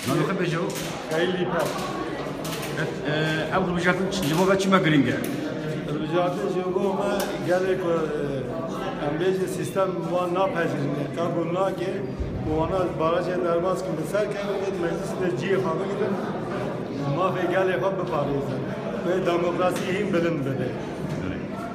Nano xebe jo? Kayli pa. Ev rubijatın cibo ve çime giring e? Rubijatın cibo me gelek e, em bêjin sistem wan napejin. Ka gul nake, bu wana barajê derbas kim bi ser kevin ed meclis de ciyê xwe bigirin. Mafê gelê xwe biparêzin. Ve demokrasî hîn bilind bibe.